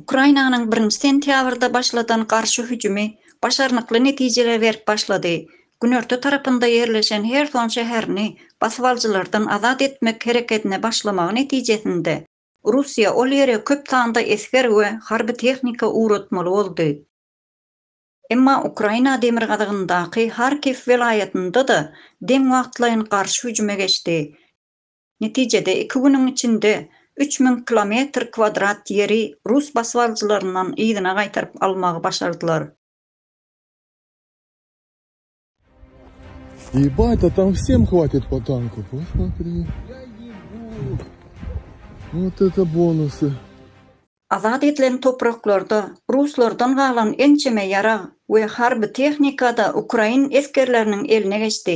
Ukrainanyň birinji sentýabrda başladan garşy hüjümi başarnykly netijeler berip başlady. Günorta tarapynda ýerleşen Herson şäherini basybalyjylardan azat etmek hereketine başlamagy netijesinde, Russiýa ol ýere köp sanda esger we harby tehnika ugratmaly boldy. Emma Ukraina demirgazygyndaky Harkiw welaýatynda-da deň wagtlaýyn garşy hüjüme geçdi. Netijede iki günüň içinde üç müň kilometr kwadrat ýeri rus basybalyjylaryndan yzyna gaýtaryp almagy başardylar. Ýebaaat a tam wsem hwatit po tanku posmatri wot eto bonusy. Azat edilen topraklarda ruslardan galan ençeme ýarag we harby tehnika-da ukrain esgerleriniň eline geçdi.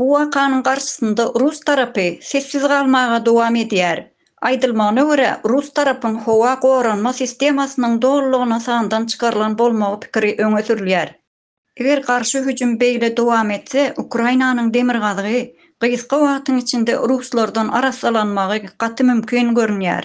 Bu wakanyň garşysynda rus tarapy sessiz galmaga dowam edýär. Aýdylmagyna görä, rus tarapyň howa goranma sistemasynyň dolulygyna sandan çykarylan bolmagy pikiri öňe sürülýär. Eger garşy hüjüm beýle dowam etse, Ukrainanyň demirgazygy gysga wagtyň içinde ruslardan arassalanmagy gaty mümkin görünýär.